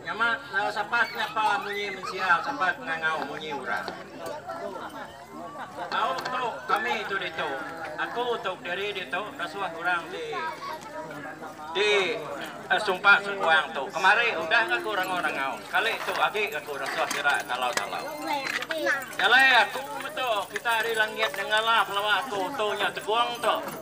Nyama lalu sapat nyapa munyi mensia sapat ngangau munyi urang. Tau tu kami tu ditu, aku tu diri ditu rasuh urang ti di sumpa sengkuang tu kemari udah ga ku rengu rengau sekali tu agi ga ku rasuh sira talau talau. Jalai aku metu kita ari langit nengala pelawa aku tu nya tegong tu.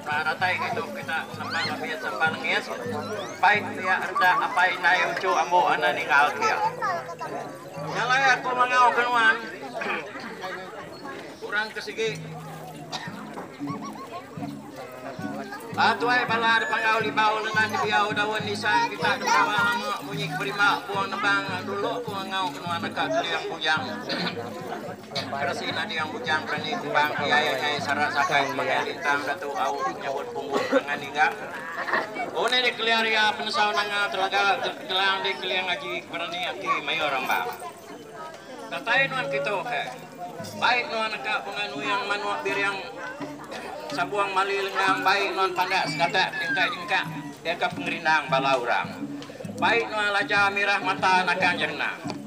Ba datai ngitu kita serempak ngambi serempak nengis bai pia reda apai indai uchu ambo enda ninggal kia. Nya alai aku mangau ke nuan kurang ke sigi. Ba tuai bala depangau libau lengan dibiau daun nisang kita deperawa lama munyi ke berima buang nebang dulu aku ngangau ke nuan deka keling bujang. Keresia nading bujang berani kembang PIII Sarak Sakai Semangai Lintang Datuk Auk menyebut punggung perangai ninggak undi di kelia ria penusau nanga Telaga Gelang di kelia ngaji berani ati mayuh orang ba datai nuan kitu ke baik nuan neka bunga nuing manuk biring sabung mali lengang baik nuan pandak segatak jengkak jengkak deka pengerindang bala orang baik nuan laja mirah mata naka njerna.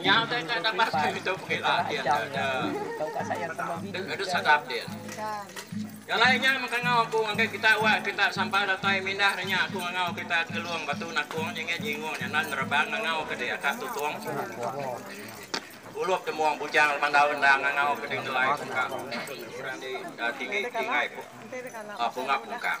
Nya udah enda tambah ke ditu pengki lah din nya nya. Deh deh sadap din. Nya alai nya mengkangau aku ngagai kita wak kita sampah datai mindah nya aku ngangau kita Tegelong Batu Nakong nyengit nyingung nyanan nerebang ngangau ke di Akak Tutong. Ulup Demong Bujang Lemandau Endang ngangau ke di Ngelai Pungkang. Orang di tinggi tinggai pungap pungkang.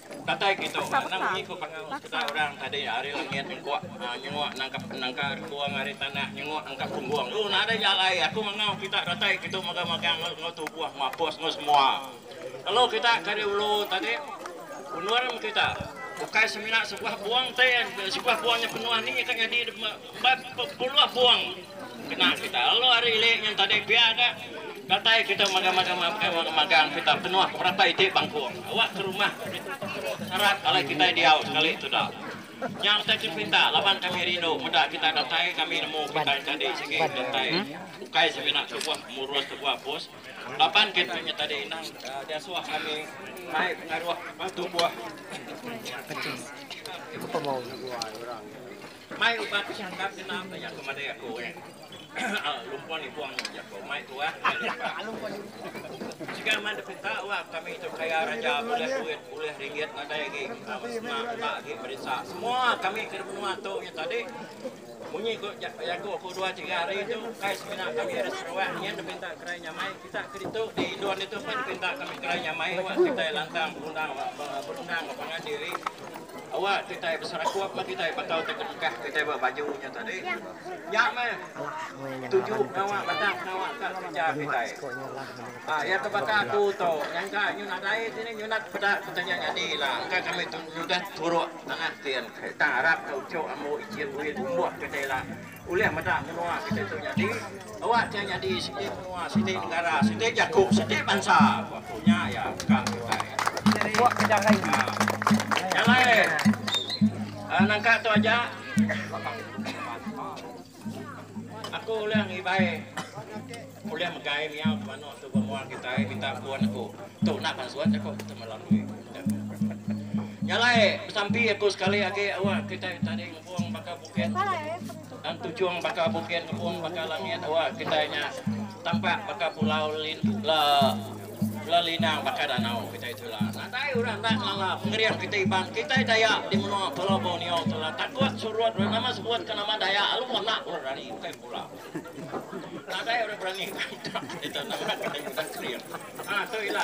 Datai ke tu, anang munyi ku panggau sekedar orang tadi ari langit nyengkuk nyenguk nangkap nangka rengkung ari tanah nyenguk nangkap punggung. Lu nadai ja alai, aku manggau kita datai ke tu mega magang enggau tubuh mapus enggau semua. Lalu kita ke ari ulu tadi undur meh kita. Bukai semina sebuah buang tin, sebuah buang nya penuh ni ka nyadi. Empat puluh buang kena kita. Lalu hari ili nyen tadi pia ka datai kita magang-magang magang magang-magang kita penuh ke berapa iti bangkung. Awak ke rumah sarat alai kitai diau sekali tu dah. Nya utai ke dipinta laban kami rindu meda kita datai kami nemu kitai tadi sigi datai ukai semina tubuh murus tubuh bos laban ke nya tadi inang diasuh kami mai pengaruh tubuh. Mai ubat pechangkap ke tang ka jaku madai aku neh. Lumpon ipong nemu jaku mai tuah mai limpa. Siga man dipinta wak kami tu kaya raja bulih duit bulih ringgit nadai agi amat senang utak agi merisa. Semua kami ke dimenua tu nya tadi munyi ku jaku aku dua tiga hari tu kai semina kami ari Sarawak nyin dipinta kerai nyamai. Chak ke ditu, di Indon ditu pun dipinta kami kena nyamai awak kitai lantang berundang berundang ba pangan diri awak kitai beserakup ba kitai bakal ti kenikah kitai ba baju nya tadi. Nya meh tuju pengawa batang pengawa ka kereja kitai. Aa iya ke baka aku tu nyangka nyu nadai ti ni nyunat peda ku tanya nyadi ila engka kami nyudah turuk tanah tin tang arap ka uchu ambu ichin buin umbuh kitai ila. Ulih meda menua kitai tu nyadi, awak nya nyadi siti menua, siti negara, siti jaku, siti bansa, ku aku nya iya ka kitai. Jalai nangka tu aja aku ulih ngibai ulih megai miau ti manuk tu ba mua kitai minta pun aku. Tu enda pan suat jaku kita melalui jalai besampi aku sekali agi awak kitai tadi ngepung baka. Bukit Tujung baka bukit ngepung baka langit awak kitai nya tampak baka pulau bela linang baka danau kitai tu ila. Nadai orang enda ngelala pengering kitai iban kitai Dayak di menua Pulau Borneo tu ila takut surut orang nama sebut ke nama Dayak alu anak orang rani bukai pulau. Nadai orang berani ngantak kitai tu nama kitai udah kering. Ha tu ila.